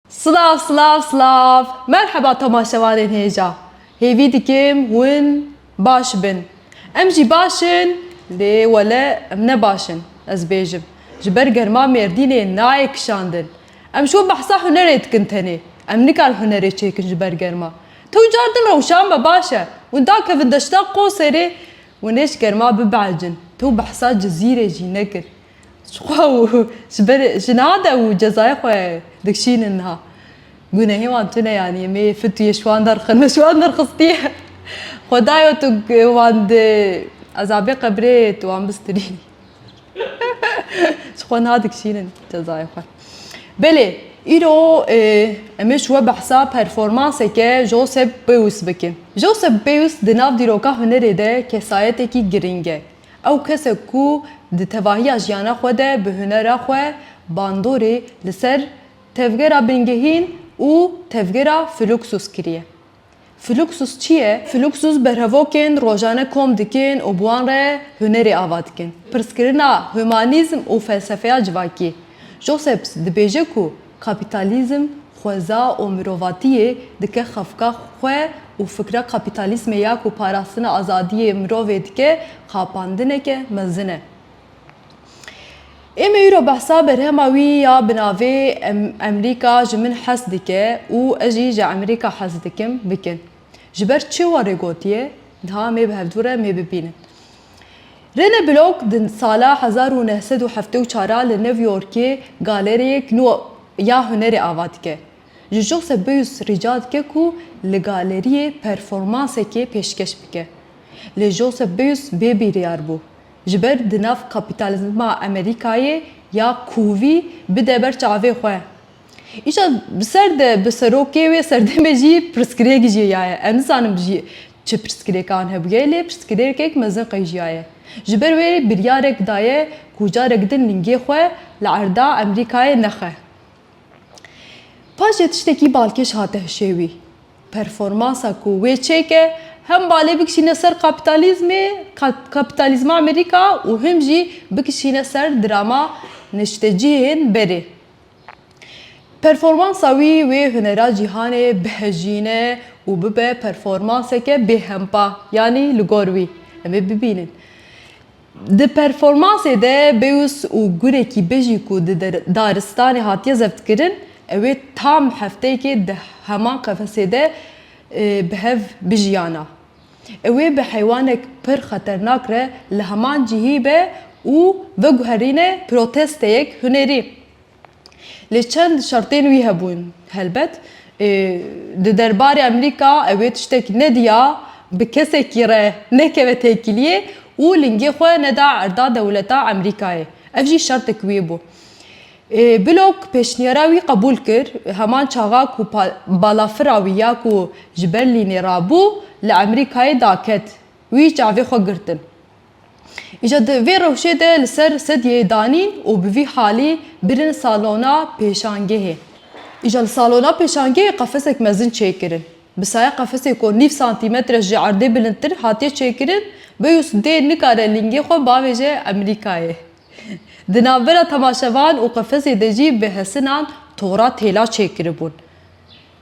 Silav silav silav merheba tomaşevanên hêja hêvî dikim hûn baş bin em jî baş in lê wele em ne baş in ez bêjim ji ber germa mêrdînê nayê kişandin em şo behsa hunerê dikin tenê em nikar hunerê çêkin ji ber germa tu car din rewşan be baş e hûn dakevin deşta qoserê hûn ê ji germa bibehecin tu behsa cizîrê jî nekir Jixwe û ji ber jina de û cezayê xwe dikişînin niha. Gunehê wan tu neyanîyê, mêyê fil tu yê ji wan derxin, ji wan derxistîye. Xwedayo tu wan di ezabê qebrê tu wan bistirî. Ji xwe niha dikişînin cezayê xwe. Belê, îro em ê ji we behsa performanseke Josep Beuys bikin. Josep Beuys di nav dîroka hunerê de kesayetekî girîng e. Ew kesek ku di tevahiya jiyana xwe de bi hunera xwe bandorê li ser tevgera bingehîn û tevgera Fluxus kiriye. Fluxus çi ye? Fluxus berhevokên rojane kom dikin û bi wan re hunerê ava dikin. Pirsgirina humanîzm û felsefeya civakî, Josephs dibêje ku Kapîtalîzm xweza û mirovatiyê dike xefika xwe û fikra kapîtalîsmê ya ku parastina azadiyê mirovê dike xapandineke mezin e. Êmê îro behsa berhema wî ya bi navê Emrîka ji min hez dike û ez jî ji Emrîka hez dikim bikin. Ji ber çi warê gotiye, niha mê bi hevdû re mê bibînin. Rene Block di sala hezar û neh sed û heftê û çar a li New Yorkê galeriyek nû ya hunerê ava dike. Ji Josebeus rica dike ku li galeriyê performansekê pêşkeş bike. Lê Josebeus bê bîryar bû. Ji ber di nav kapîtalizma Amerîkayê ya kûvî bide ber çavê xwe. Îşa bi ser de bi serokê wê serdemê jî pirsgirêk jiyaye. Ez nizanim jî çi pirsgirêkan hebûye lê pirsgirêkek mezin qejiyaye. Ji ber wê biryarek daye ku carek din lingê xwe li erda Emerîkayê nexe. Paşê tiştekî balkêş hate hişê wî. Performansa ku wê çêke hem balê bikişîne ser kapîtalîzmê, kapîtalîzma Emerîka û him jî bikişîne ser drama neştecihên berê. Performansa wî wê hunera cîhanê bihejîne û bibe performanseke bêhempa yanî li gor wî em ê bibînin. Di performansê de Beus û gulekî bijî ku di daristanê hatiye zevtkirin ew ê tam hefteyekê di heman qefesê de bi hev bijiyana. Ew ê bi heywanek pir xeternak re li heman cihî be û veguherîne protesteyek hunerî. Lê çend şertên wî hebûn. Helbet di derbarê Amerîka ew ê tiştek nediya bi kesekî re nekeve têkiliyê û lingê xwe neda erda dewleta Amerîkayê. Ev jî şertek wî bû. Blok pêşniyara wî qebûl kir, heman çaxa ku balafira wî ya ku ji Berlînê rabû li Emerîkayê daket, wî çavê xwe girtin. Îja di vê rewşê de li ser sedyeyê danîn û bi vî halî birin salona pêşangehê. Îja li salona pêşangehê qefesek mezin çêkirin. Bi saya qefesê ku nîv santîmetre ji erdê bilindtir hatiye çêkirin, Beyûs dê nikare lingê xwe bavêje Emerîkayê. Di navbera temaşevan û qefezê de jî bi hesinan tora têla çêkiribûn.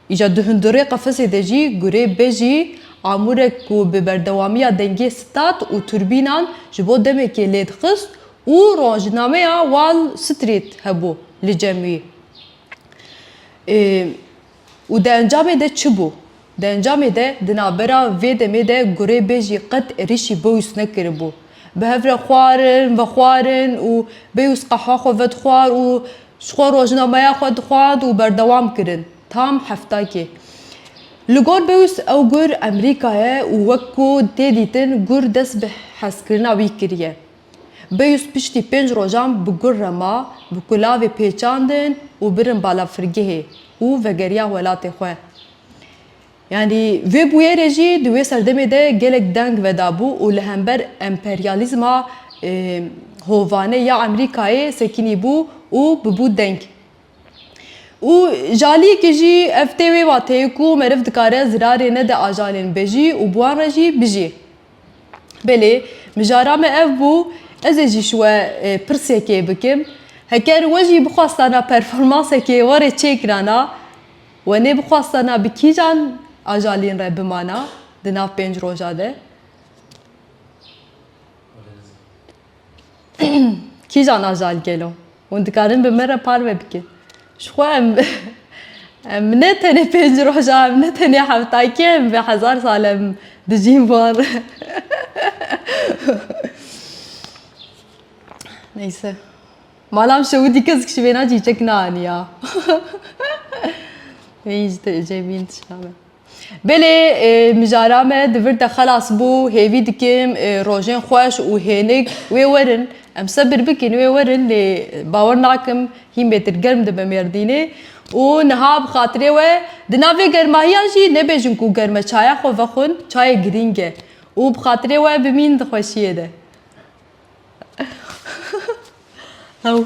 Îja di hundirê qefezê de jî gurê bejî, amûrek ku bi berdewamiya dengê stat û turbînan ji bo demekê lêdixist û rojnameya Wall Street hebû li cem wî. Û di encamê de çi bû? Di encamê de di navbera vê demê de gurê bêjî qet êrîşî Beûs nekiribû. Bi hev re xwarin, vexwarin û Beûs qehwa xwe vedixwar û ji xwe rojnameya xwe dixwend û berdewam kirin. Tam heftakê. Li gor Beûs ew gur Emrîka ye û wek ku tê dîtin gur dest bi hezkirina wî kiriye. Beyûs piştî pênc rojan bi gur re ma, bi kulavê pêçandin û birin balafirgehê û vegeriya welatê xwe. Yanî vê bûyerê jî di wê serdemê de gelek deng vedabû û li hember emperyalîzma hovane ya Emerîkayê sekinîbû û bibû deng. Û ji aliyê ke jî ev tê wê wateyê ku meriv dikare zirarê nede ajanên bejî û bi wan re jî bijî. Belê, mijara me ev bû. Ez ê jî ji we pirsekê bikim. Heker we jî bixwastana performansekê warê çêkirana, we nêbixwastana bi kîjan ajalîn re bimana di nav pênc roja de? Kîjan ajal gelo? Hûn dikarin bi min re parve bikin. Ji xwe em em ne tenê pênc roja em ne tenê heftakî em vê hezar sal em dijîn van re. Neyse. Malam şewidî kesk ji wêna çîçek neaniya. Wê îş de ecê bîn tişta me. Belê mijara me di vir de xelas bû, hêvî dikim rojên xweş û hênik wê werin. Em sebir bikin wê werin lê bawer nakim hîn bêtir germ dibe Mêrdînê û niha bi xatirê we di nav vê germahiyan jî nebêjin ku germ e çaya xwe vexwin çayê girîng e û bi xatirê we bimîn di xweşiyê de. Hew.